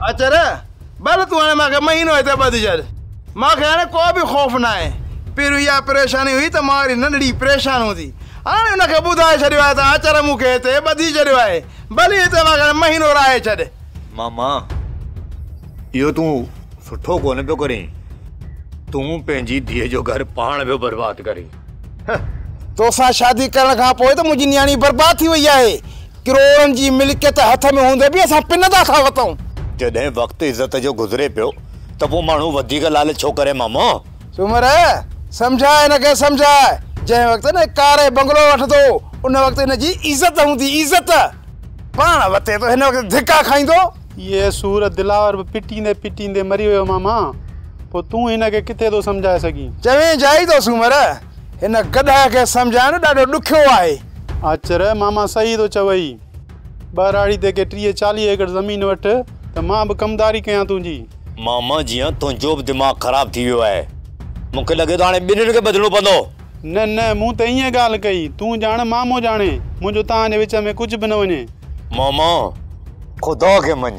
اچر، ڀل تون هاڻي مان کي مهينو هتي ٻڌي ڇڏ. مان کي هاڻي ڪو به خوف ناهي. پهريون اها پريشاني هئي ته مان واري ننڍڙي پريشان هوندي. هاڻي ان کي ٻڌائي ڇڏيو آهي ته اچر مون کي هتي ٻڌي ڇڏيو آهي. ڀلي هتي مان کي هاڻي مهينو رهائي ڇڏ. ماما، اهو تون سٺو ڪونه پيو ڪرين. تون پنهنجي ڌيء جو گهر پاڻ پيو برباد ڪرين. هه! توسان شادي ڪرڻ کان پوء ته منهنجي نياڻي برباد ٿي وئي آهي. ڪروڙن جي ملڪيت هٿ ۾ هوندي به اسان پن ته ٿا وتئون. جڏهن وقت عزت جو گذري پيو ته پوء ماڻهو وڌيڪ لالچ ڇو ڪري مامو؟ سومر، سمجهاء هن کي سمجهاء. جنهن وقت هن ڪاري بنگلو وٺندو ان وقت هن جي عزت هوندي عزت. پاڻ وتي ته هن وقت ڌڪا کائيندو. اهي سور دلاور به پٽيندي پٽيندي مري ويو ماما. پوء تون هن کي ڪٿي ٿو سمجهائي سگهين؟ چوين جائي ٿو سومر. هن گڏهه کي سمجهائڻ ڏاڍو ڏکيو آهي. آچر، ماما صحيح ٿو چوئي. ٻهراڙي تي ڪي ٽيهه چاليهه ايڪڙ زمين وٺ ته مان به ڪمداري ڪيان تنهنجي. ماما جيئن تنهنجو به دماغ خراب ٿي ويو آهي. مون کي لڳي ٿو هاڻي ٻنهين کي ٻڌڻو پوندو. نه نه، مون ته ائين ڳالهه ڪئي. تون ڄاڻ مامو ڄاڻي. منهنجو توهان جي وچ ۾ ڪجهه به نه وڃي. ماما، خدا کي مڃ.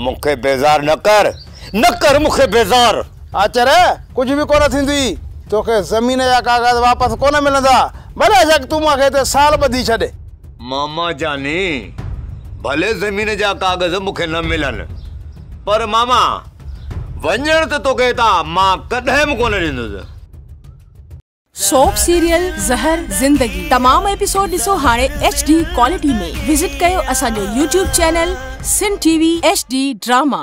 مون کي بيزار نه ڪر. نه ڪر مون کي بيزار. آچر ڪجهه به ڪونه ٿيندي. توکي زمين جا ڪاغذ واپس ڪونه ملندا. بلاشڪ تون مون کي هتي سال ٻڌي ڇڏ. ماما جاني ڀلي زمين جا ڪاغذ مون کي نه ملن پر ماما وڃڻ ته توکي هتان مان ڪڏهن به ڪونه ڏيندس. سوپ سيريل زهر زندگي تمام ايپيسوڊ ڏسو هاڻي ايڇ ڊي ڪوالٽي ۾ وزٽ ڪيو اسان جو YouTube channel Sindh T V H D drama.